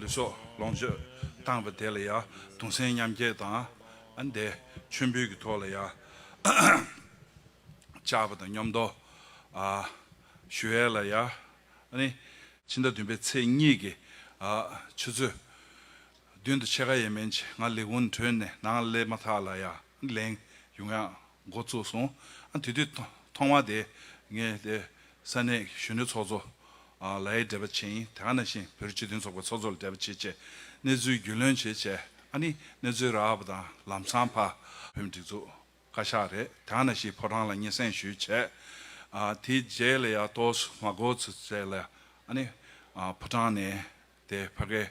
ལུས་སྲོག་ལོངས་སྤྱོད་བཏང་བ་དེ་ལ་ཡང་དུང་སེམས་མཉམ་སྐྱེ་དང། འདས་མཆོད་འབུལ་གྱི་ཐོག་ལ་ཡང་བཅག་པ་དང་སྙོམས་མདོ་ཞུ་ཡས་ལ་ཡང། ཕྱི་ཟླ་བདུན་པའི་ཚེས་གཉིས་ཀྱི་ཆུ་ཚོད་བདུན་དུ་ཕྱེད་ཀ་ཡས་མན་ཆེ་ང་ལེགས་འུན་གྲོལ་ནས་ནང་སླེབས་མ་ཐག་ལ་ཡང་ལེན་ཡོང་ཡང་འགོ་བཙུགས་སོང། དེ་དུས་ཐོག་མ་དེ་ངས་དེ་ས་གནས་གཞོན་ནུའི་ཚོགས་གཙོ་ལའི་འབྲེལ་པ་བྱེད་ཡིན་དེ་ག་ནང་བཞིན་བོད་རིགས་སྤྱི་མཐུན་ཚོགས་པའི་ཚོགས་གཙོ་ལ་འབྲེལ་པ་བྱེད་ཆེད་གནས་ཚུལ་རྒྱུས་ལོན་བྱེད་ཆེད་ཨ་ནི་གནས་ཚུལ་རག་བ་དང་ལམ་སང་ཕ། བོད་མི་སྒྲིག་འཛུགས་བཀའ་ཤག་རེད་དེ་ག་ནང་བཞིན་ཕོ་བྲང་ལ་སྙན་སེང་ཞུས་ཆེད་དེའི་རྗེས་ལ་ཡ་ཏོས་མ་གོ་ཚེ་ལ་ཨ་ནི་ཕོ་བྲང་ནས་དེའི་བྷ་གའི།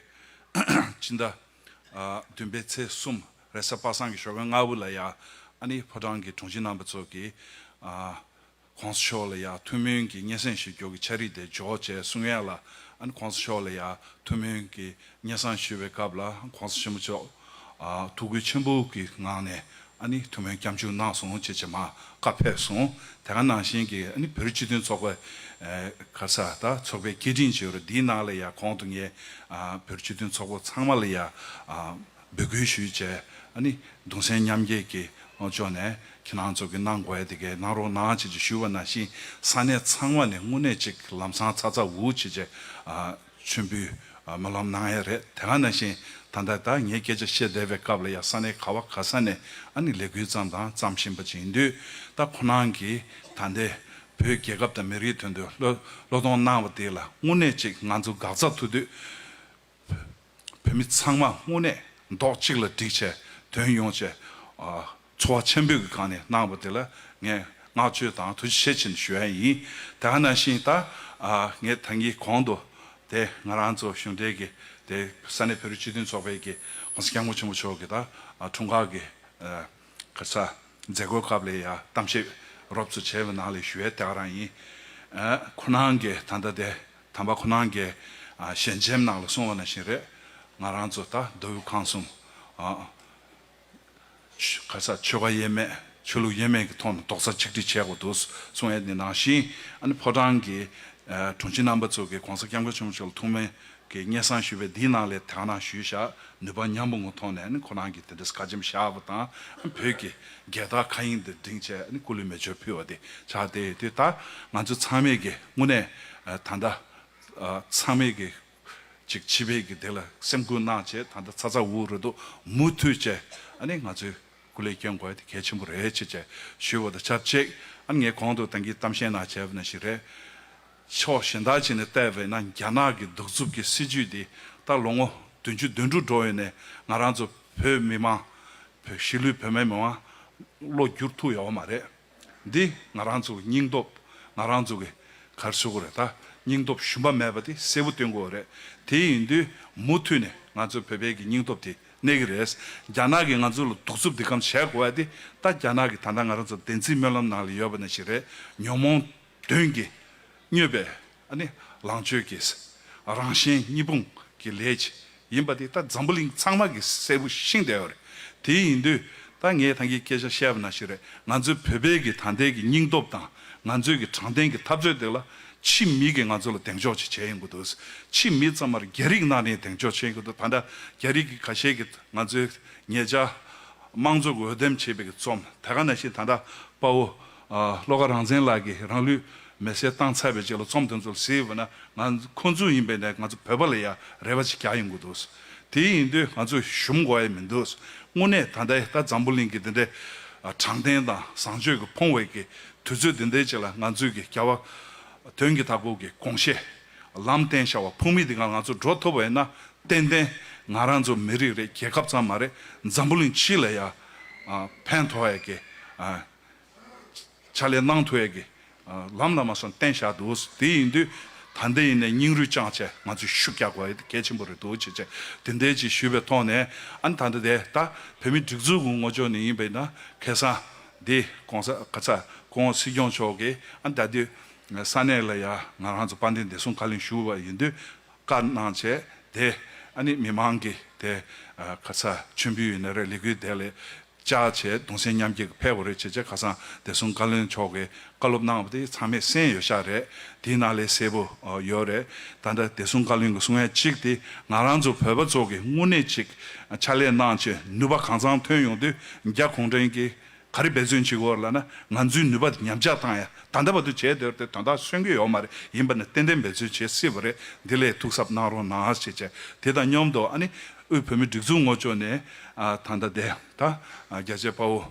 སྤྱི་ཟླ། བདུན་པའི་ཚེས་གསུམ་རེས་གཟའ་པ་སངས་ཀྱི་ཞོ་གའི་མངའ་དབུ་ལ་ཡང་ཨ་ནི་ཕོ་བྲང་གི་དྲུང་ཆེ་རྣམ་པ་ཚོ་གིས། གོང་ས་མཆོག་ལ་ཡང་ཐུགས་སྨོན་གྱི་སྙན་གསན་ཞུ་རྒྱུ་གི་ཆ་རིས་དེ་འཇོག་བྱས་གསུང་ཡན་ལ་ཨ་ནི་གོང་ས་མཆོག་ལ་ཡང་ཐུགས་སྨོན་གྱི་སྙན་གསང་ཞུ་བའི་སྐབས་ལ་གོང་ས་ཆེན་པོ་མཆོག་ཐུགས་རྒྱུད་ཆེན་པོ་གི་ངང་ནས་ཐུགས་སྨོན་སྐྱབས་འཇུག་གནང་སོང་ཅེས་བྱེ་མ་ཀ་ཕེབས་སོང་དེ་ག་ནང་བཞིན་གི་བོད་རིགས་སྤྱི་མཐུན་ཚོགས་པའི་ཁ་ས་ད་ཚོགས་པའི་སྐད་འཕྲིན་བྱེད་རུ་འདིའི་ནང་ལ་ཡང་གོང་དུ་ངས་བོད་རིགས་སྤྱི་མཐུན་ཚོགས་པོ་ཚང་མ་ལ་ཡང་འབོད་སྐུལ་ཞུས་བྱས་གདུང་སེམས་མཉམ་སྐྱེད་ཀྱི་ལོངས་སྤྱོད་ནས་ཁྱེད་རང་ཚོ་གི་གནང་དགོས་ཡ་དེ་གས་གནང་རོགས་གནང་ཅེས་བྱས་ཞུས་པ་ནང་བཞིན་ས་གནས་ཚང་མ་ནས་དངོས་གནས་ཅིག་ལམ་སང་ཚ་ཚ་འུར་འུར་བྱས་བྱས་མཆོད་འབུལ་མ་ལམ་གནང་ཡས་རེད་དེ་ག་ན་བཞིན་ད་ལྟ་བདག་ངས་སྐད་ཆ་བཤད་བསྡད་པའི་སྐབས་ལ་ཡ་ས་ནའི་ག་བ་ག་ས་ནས་ཨ་ནི་ལས་འགུལ་བརྩམས་དང་བརྩམས་བཞིན་པ་ཅིག་ཡིན་དུས་ད་ཁོ་ནང་གི་ད་ལྟའི་བོད་རྒྱལ་ཁབ་དང་མི་རིགས་དོན་དུ་བློས་གཏོང་གནང་བ་དེ་ལ་དངོས་གནས་ཅིག་ང་ཚོ་འགག་རྩ་ཐུག་དུས་བོད་མི་ཚང་མ་དངོས་གནས་མདོག་གཅིག་ལ་བསྒྲིགས་བྱས་དོན་ཡོང་བྱས། ཚོར་བ་ཆེན་པོས་ཀྱི་སྒང་ནས་གནང་བ་དེ་ལ་ངས་བསྔགས་བརྗོད་དང་ཐུགས་རྗེ་ཆེ་ཆེན་ཞུ་ཡ་ཡིན། དེ་ག་ནང་བཞིན་ད་ངས་ད་ངའི་གོང་དུ་དེ་ང་རང་ཚོ་གཞུང་འབྲེལ་གྱི་དེ་ས་གནས་བོད་རིགས་སྤྱི་མཐུན་ཚོགས་པའི་གྱི་གོང་ས་སྐྱབས་མགོན་ཆེན་པོ་མཆོག་གི་ད་འཁྲུངས་སྐར་གྱི་ག་ས་མཛད་སྒོའི་སྐབས་ལས་ཡ་གཏམ་བཤད་རོབ་ཚོ་བྱས་པའི་ནང་ལས་ཞུ་ཡ་དེ་ག་རང་ཡིན། ཁོ་ནང་གི་ད་ལྟ་དེ་དམ་པ་ཁོ་ནང་གི་ཞལ་མཇལ་ནང་ལ་གསུང་བ་ནང་བཞིན་རེད། ང་རང་ཚོ་ད་མདོ་དབུས་ཁམས་གསུམ། ག་ས་ཆོལ་ཁ་ཡས་མས་ཆོས་ལུགས་ཡས་མས་ཀྱི་ཐོག་ནས་རྡོག་རྩ་ཆིག་སྒྲིལ་བྱས་དགོས་འདུག་གསུངས་ཨ་ནི་ནང་བཞིན་ཨ་ནི་ཕོ་བྲང་གི་དྲུང་ཆེ་རྣམ་པ་ཚོ་གིས་གོང་ས་སྐྱབས་མགོན་ཆེན་པོ་མཆོག་ལ་ཐུགས་སྨོན་གྱི་སྙན་གསང་ཞུས་པས་འདིའི་ནང་ལས་དེ་གང་ན་ཞུས་བཞག་ནུས་པ་མཉམ་པོ་ངོ་ཐོག་ནས་ཨ་ནི་ཁོ་རང་གིས་དེ་འདྲའི་བཀའ་ཆེམས་བཞག་པ་དང་ཨ་ནི་བོད་ཀྱི་རྒྱལ་དར་མཁའ་དབྱིངས་འདིར་བསྒྲེངས་ཆེད་ཨ་ནི་སྐུ་ལུས་མེ་མཆོད་ཕུལ་བ་དེ་ཆགས་བསྡད་ཡོད་དུས་ད་ང་ཚོ་ཚང་མས་ཀྱིས་དངོས་གནས་ད་ལྟ་ཚང་མས་ཀྱིས། ཅིག་ཕྱི་བས་ཀྱི་དེ་ལ་སེམས་ཀུན་སྣང་བྱེད་ད་ལྟ་ཚ་ཚ་འུར་འུར་རོལ་དུ་མུ་མཐུད་བཅས་ཨ་ནི་ང་ཚོས་སྐུ་ལས་སྐྱོན་དགོས་དེ་གལ་ཆེན་པོ་རེད་ཅེས་བཅས་ཞུས་པ་དང་ཆབས་ཅིག་ཨ་ནི་ངས་གོང་དུ་ཏང་གིས་གཏམ་ཤན་ནང་བྱས་པ་ནི་ཞིག་རེད། ཕྱོགས་གཞན་དག་བྱས་ནས་བལྟས་པས་ན་རྒྱ་ནག་གི་གདུག་རྩུབ་ཀྱི་སྲིད་ཇུས་འདི་ད་ལོ་ངོ་བདུན་ཅུ་དོན་དྲུག་འགྲོ་ཡོད་ནས་ང་རང་ཚོ་བོད་མི་དམངས། གཞིས་ལུས་བོད་མའི་མི་དམངས། བློ་འགྱུར་ཐུག་ཡོད་པ་མ་རེད། འདི་ང་རང་ཚོའི་སྙིང་སྟོབས་ང་རང་ཚོ་གི་གར་སོ་གོ་རེད་ད་སྙིང་སྟོབས་ཞུམ་པ་མེད་པ་དེ་གསལ་བོ་སྟོན་དགོས་རེད་དེ་ཡིན་དུས་མུ་མཐུད་ནས་ང་ཚོའི་བོད་པའི་གི་སྙིང་སྟོབས་དེ་གནས་གི་རེད་རྒྱ་ནག་གི་ང་ཚོ་ལ་གདུག་རྩུབ་དེ་གམ་བྱས་དགོས་བ་དེ་ད་རྒྱ་ནག་གི་ད་ལྟ་ང་རང་ཚོ་བདེན་ཚིག་སྨོན་ལམ་ནང་ལ་ཡོད་པ་ནས་ཞིག་རེད་ཉོན་མོངས་དོན་གྱི་སྨྱོས་པའི་ནི་ལང་སྤྱོད་ཀྱི་རང་གཞན་གཉིས་སྤུངས་ཀྱི་ལས་ཀྱིས་ཡིན་པ་དེ་ད་འཛམ་བུ་གླིང་ཚང་མ་གི་གསལ་བོ་ཤིང་བསྡད་ཡོད་རེད་དེ་ཡིན་དུས་ད་ངས་ཐང་གི་སྐད་ཆ་བཤད་པ་ན་ཞིག་རེད་ང་ཚོའི་བོད་པའི་གི་ད་ལྟའི་གི་སྙིང་སྟོབས་དང་ང་ཚོའི་གི་དྲང་བདེན་གི་འཐབ་རྩོད་དེ་ལ་ཕྱི་མི་གི་ང་ཚོ་ལ་གདེང་འཇོག་ཅིག་བྱས་ཡོང་གི་འདུག་ཕྱི་མི་ཙམ་མར་རྒྱ་རིགས་ནང་ནས་གདེང་འཇོག་བྱས་ཡོང་གི་འདུག་ད་ལྟ་རྒྱ་རིགས་གི་ག་ཤེད་གི་ང་ཚོའི་ངེད་ཅག་དམངས་གཙོ་གི་འོས་འདེམས་བྱས་པའི་གི་རྩོམ་དེ་ག་ན་ཞིག་ད་ལྟ་དཔའ་བོ་ཤློ་ཀ་རང་བཙན་ལགས་ཀྱིས་རང་ལུས་མེར་སྲེག་བཏང་ཚར་བའི་རྗེས་ལ་རྩོམ་དེ་ཚོ་གཟིགས་འོས་ན་ང་ཁོང་ཚོ་ཡིན་པའི་ནས་ང་ཚོ་བོད་པ་ལ་ཡ་རེ་བ་ཅིག་རྒྱག་ཡོང་གི་འདུག་དེ་ཡིན་དུས་ང་ཚོ་ཞུམ་གོ་ཡས་མི་འདུག་དངོས་གནས་ད་ལྟའི་ད་འཛམ་བུ་གླིང་གི་དེ་འདྲའི་དྲང་བདེན་དང་བཟང་སྤྱོད་ཀྱི་ཕོངས་བས་ཀྱི་དུས་ཚོད་དེ་འདའི་རྗེས་ལ་ང་ཚོས་ཀྱི་རྒྱ་བ་དོན་གྱི་ད་གོ་གི་དགོངས་བཞེད་ལམ་བསྟན་བྱ་བ་ཕུགས་མི་དེ་ག་ང་ཚོ་འགྲོ་ཐུབ་འོས་ན་ཏན་ཏན་ང་རང་ཚོ་མི་རིགས་རེད་རྒྱལ་ཁབ་ཙམ་མ་རེད་འཛམ་བུ་གླིང་སྤྱི་ལ་ཡ་ཕན་ཐོག་འོས་ཀྱི་ཕྱག་ལས་གནང་ཐུབ་ཀྱི། ལམ་ལ་མ་སོན་བསྟན་བཞག་འདུག་དེ་ཡིན་དུས་ད་འདི་ཡིན་ནས་སྙིང་རུས་བཅངས་ཆེད་ང་ཚོས་ཤུགས་རྒྱག་དགོས་གལ་ཆེན་པོ་རེད་འདུག་ཅེས་བཅས་དེ་འད་ཅེས་ཞུས་པའི་ཐོག་ནས་ཨ་ནི་ད་འདི་དེ་ད་བོད་མི་སྒྲིག་འཛུགས་ངོ་ཅོག་ནས་ཡིན་པའི་ན་ཁེ་སང་འདི་གོང་ས་ག་ཚ་གོང་སྲིད་སྐྱོང་མཆོག་གིས་ཨ་ནི་ད་དུས་ས་གནས་ལ་ཡང་ང་རང་ཚོ་དཔལ་ལྡན་བདེ་སྲུང་བཀའ་ལན་ཞུ་བ་ཡིན་དུས་བཀའ་གནང་བྱས་ཏེ་ཨ་ནི་མི་མང་གིས་དེ་ག་ཚ་མཆོད་འབུལ་ཡོད་ནི་རེད་ལི་གུའི་དེ་ལས་ཅག་བྱས་གདུང་སེམས་མཉམ་སྐྱེད་ཕལ་བོ་རེད་བྱས་བྱས་ཁ་སང་བདེ་སྲུང་བཀའ་བློན་མཆོག་གིས་བཀའ་སློབ་གནང་བ་དེ་ཚང་མས་གསན་ཡོད་ཤག་རེད་དེའི་ནང་ལས་གསལ་པོ་ཡོད་རེད་ད་འདྲ་བདེ་སྲུང་བཀའ་བློན་གྱི་གསུང་བཤད་ཅིག་དེ་ང་རང་ཚོ་བོད་པ་ཚོ་གི་དངོས་གནས་ཅིག་ཕྱག་ལས་གནང་ཆེད་ནུས་པ་གང་ཚང་ཐོན་ཡོང་དུས་རྒྱ་གུང་ཁྲན་གྱི་ག་རེ་འབད་བརྩོན་བྱེད་དགོས་ལ་ན་ང་ཚོའི་ནུས་པ་ཉམས་ཆག་བཏང་ཡ་ད་འདའ་བ་དུ་བྱས་དེར་དེ་དོན་དག་སོན་གི་ཡོད་མ་རེད་ཡིན་པ་ནི་ཏན་ཏན་འབད་བརྩོན་བྱེད་སྲིད་པ་རེད་འདི་ལས་ཐུགས་གཟབ་གནང་རོགས་གནང་ཞེས་བྱས་དེ་དང་སྙོམས་དོ་ཨ་ནི་དབུས་བོད་མི་སྒྲིག་འཛུགས་ངོ་ཅོག་ནས་ད་འདའ་བསྡད་ད་རྒྱལ་གཅེས་དཔའ་བོ་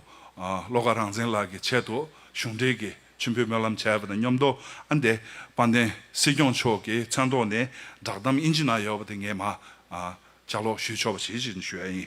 བློ་དགའ་རང་བཙན་ལགས་ཀྱི་ཆེད་དུ་གཞུང་འབྲེལ་གྱི་མཆོད་འབུལ་སྨོན་ལམ་བྱས་པ་དང་སྙོམས་དོ་ཨ་འདས་དཔའ་བརྟན་སྲིད་སྐྱོང་མཆོག་གི་མཚན་ཐོག་ནས་བསྒྲགས་གཏམ་དབྱིན་ཇི་ན་ཡོད་པ་དེ་ངས་མ་བྱ་ལོག་ཞུས་ཆོག་པ་བྱེད་ཅེས་ཞུ་ཡ་ཡིན།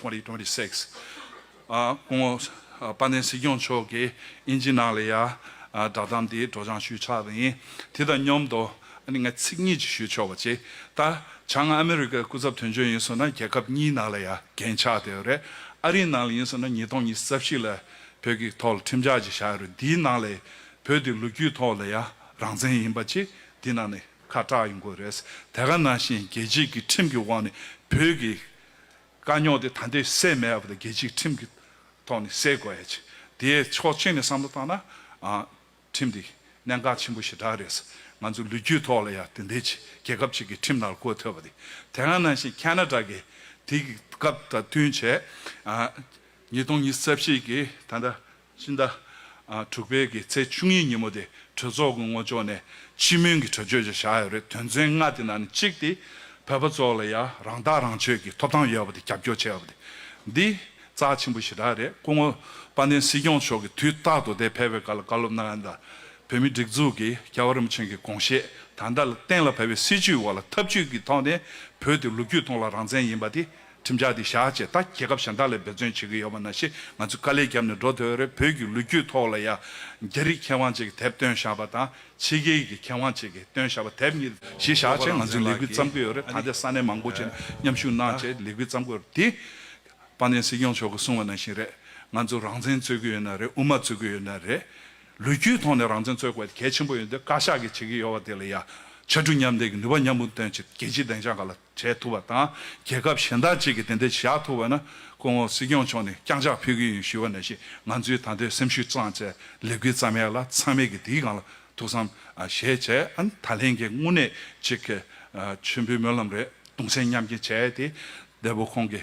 Twenty Twenty Six སྐུ་ངོ་དཔལ་ལྡན་སྲིད་སྐྱོང་མཆོག་གིས་དབྱིན་ཇི་ནང་ལས་ཡ་བསྒྲགས་གཏམ་དེའི་སྒྲོགས་སྦྱང་ཞུས་ཆགས་རིང་དེ་དང་མཉམ་དུ་ཨ་ནི་ང་ཚིག་གཉིས་ཅིག་ཞུས་ཆོག་པ་ཅི་ད་ཆ་ང་ཨ་མི་རི་ཀའི་སྐུ་ཚབ་དོན་གཅོད་ཡིན་ཟེར་ན་རྒྱལ་ཁབ་གཉིས་ནང་ལས་ཡ་འགན་ཆགས་བསྡད་ཡོད་རེད་ཨ་རིའི་ནང་ལས་ཡིན་ཟེར་ན་ཉིས་སྟོང་ཉིས་རྩ་བཞི་ལ་བོད་ཀྱི་ཐོག་ལ་ཁྲིམས་འཇགས་ཅིག་བཞག་ཡོད་རེད་འདིའི་ནང་ལས་བོད་དེ་ལོ་རྒྱུས་ཐོག་ལས་ཡ་རང་བཙན་ཡིན་པ་ཅི་འདི་ནང་ནས་ཁ་གྲགས་ཡོང་དགོས་རེད་དེ་ག་ནང་བཞིན་རྒྱལ་སྤྱིས་ཀྱི་ཁྲིམས་ཀྱི་འོག་ནས་བོད་ཀྱི་དཀའ་རྙོག་དེ་ད་ལྟའི་སེལ་མེད་པ་དང་རྒྱལ་སྤྱིའི་ཁྲིམས་ཀྱི་ཐོག་ནས་སེལ་དགོས་ཡ་ཆེ། དེའི་ཕྱོགས་གཅིག་ནས་བསམ་བློ་བཏང་ན། ཁྲིམས་དེ་གནད་འགག་ཆེན་པོ་ཞེ་དྲག་རེད། ང་ཚོའི་ལུས་རྒྱུད་ཐོག་ལ་ཡང་དེ་འདྲའི་ཆེ་རྒྱལ་ཁབ་ཅིག་གི་ཁྲིམས་ནང་ལ་བཀོད་ཐུབ་པ་དེ་དེ་སྔ་ནང་བཞིན་ཁ་ན་དྲ་གི་དེ་གི་སྐབས་དང་བསྟུན་བྱས། ཉིས་སྟོང་ཉིས་རྩ་བཞི་གི་ད་ལྟ། ཕྱི་ཟླ་དྲུག་པའི་གི་ཚེས་བཅུ་གཉིས་ཉིན་མོ་དེ་གྲོས་ཚོགས་ཀྱི་མངོན་ལྕོག་ནས་སྤྱི་མོས་ཀྱི་གྲོས་ཆོད་ཅིག་བཞག་ཡོད་རེད་དོན་ཚན་ལྔ་དེ་ནང་ནས་གཅིག་དེ་བོད་པ་ཚོ་ལ་ཡ་རང་ཐག་རང་ཆོད་ཀྱི་ཐོབ་ཐང་ཡོད་པ་དེ་རྒྱབ་སྐྱོར་བྱེད་པ་དེ་འདི་རྩ་ཆེན་པོ་ཞེ་དྲག་རེད་སྐུ་ངོ་དཔལ་ལྡན་སྲིད་སྐྱོང་མཆོག་གི་དུས་རྟག་ཏུ་དེ་ཕལ་བའི་སྐར་ལ་བཀའ་སློབ་གནང་ཡང་དང་བོད་མི་སྒྲིག་འཛུགས་ཀྱི་ཀྱ་བ་རིམ་ཆེན་གྱི་དགོངས་བཞེད་དང་དག་ལ་གཏན་ལ་ཕབ་པའི་སྲིད་བྱུས་འོག་ལ་ཐབས་བྱུས་ཀྱི་ཐོག་ནས་བོད་དེ་ལོ་རྒྱུས་ཐོག་ལ་རང་བཙན་ཡིན་པ་དེ་ཁྲིམས་འཆར་འདི་བཞག་རྗེས་ད་རྒྱལ་ཁབ་གཞན་དག་ལས་འབད་བརྩོན་བྱེད་ཀྱི་ཡོད་པ་ན་ཞེས་ང་ཚོས་དཀའ་ལས་བརྒྱབ་ནས་འགྲོ་འདོད་པ་རེད་བོད་ཀྱི་ལོ་རྒྱུས་ཐོག་ལ་ཡང་རྒྱ་རིགས་མཁས་དབང་བཅས་ཀྱི་དེབ་བཏོན་བཞག་པ་དང་ཕྱི་རྒྱལ་གྱི་མཁས་དབང་བཅས་ཀྱི་བཏོན་བཞག་པ་དེབ་གཉིས་ཞིག་བཞག་རྗེས་ང་ཚོས་ལས་འགུལ་བརྩམས་ཀྱི་ཡོད་རེད་ད་ལྟའི་ས་གནས་མང་པོ་བཅས་ནས་མཉམ་ཞུགས་གནང་རྗེས་ལས་འགུལ་བརྩམས་དགོས་རེད་དེ། སྤང་ལྗན་སྲིད་སྐྱོང་མཆོག་གིས་གསུངས་པ་ནང་བཞིན་རེད་ང་ཚོས་རང་བཙན་རྩོད་ཀྱི་ཡོད་ན་རེད་དབུ་མ་རྩོད་ཀྱི་ཡོད་ན་རེད། ལོ་རྒྱུས་ཐོག་ནས་རང་བཙན་རྩོད་དགོས་པ་གལ་ཆེན་པོ་ཡོད་འདོད་བཀའ་ཤག་གིས་བྱེད་ཀྱི་ཡོད་པ་དེ་ལ་ཡང་ཕྱར་གྲུ་མཉམ་འདེགས་ཀྱི་ནུས་པ་མཉམ་སྤུངས་བཏོན་རྗེས་རྒྱལ་སྤྱིའི་བདེ་འཇགས་ཁག་ལ། བྱེད་ཐུབ་པ་དང་རྒྱལ་ཁབ་གཞན་དག་ཅིག་གིས་དེ་འདྲ་བྱ་ཐུབ་པ་ན་སྐུ་ངོ་སྲིད་སྐྱོང་མཆོག་ནས་རྐྱང་ཕྱག་ཕུལ་གི་ཡིན་ཞུས་པ་ནས་བཞིན་ང་ཚོའི་ད་ལྟའི་སེམས་ཤུགས་གཙང་བཅད་ལས་འགུལ་རྩ་མེད་ལ་ཚང་མས་ཀྱི་དེའི་སྒང་ལ་ཐུགས་བསམ་བཞེས་བྱས་ད་ལན་གྱི་དངོས་གནས་ཅིག་གི་མཆོད་འབུལ་སྨོན་ལམ་རེ་དུང་སེམས་མཉམ་སྐྱེ་བྱས་ཏེ་འདས་པོ་ཁོང་གི